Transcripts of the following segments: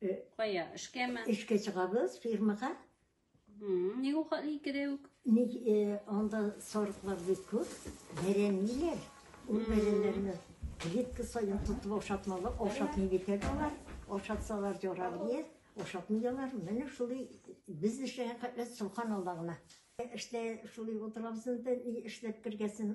Э, Кая? Эшкәме? Эшкә чыгабыз фирмага. Ник ул хәтле икедә үк? Ник э, анда сарыклар бик күп, бәрәниләр. Ул бәрәннәрне клетка саен тотып ашатмалы, ашатмый бит алар. Ашатсалар ярар дия, ашатмый алар. Менә шулай без эшләгән хәтле сулхан алдагына. Эштә шулай утырабыз инде, эшләп кергәсен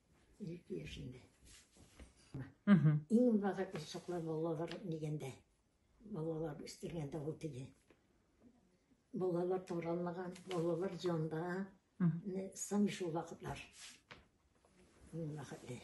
Ике яшендә. Угу. Иң бага чаклар балалар дигәндә, балалар үстергәндә ул теге. Балалар таралмаган, балалар җанда, сам шул вакытлар. Мин вакытлар.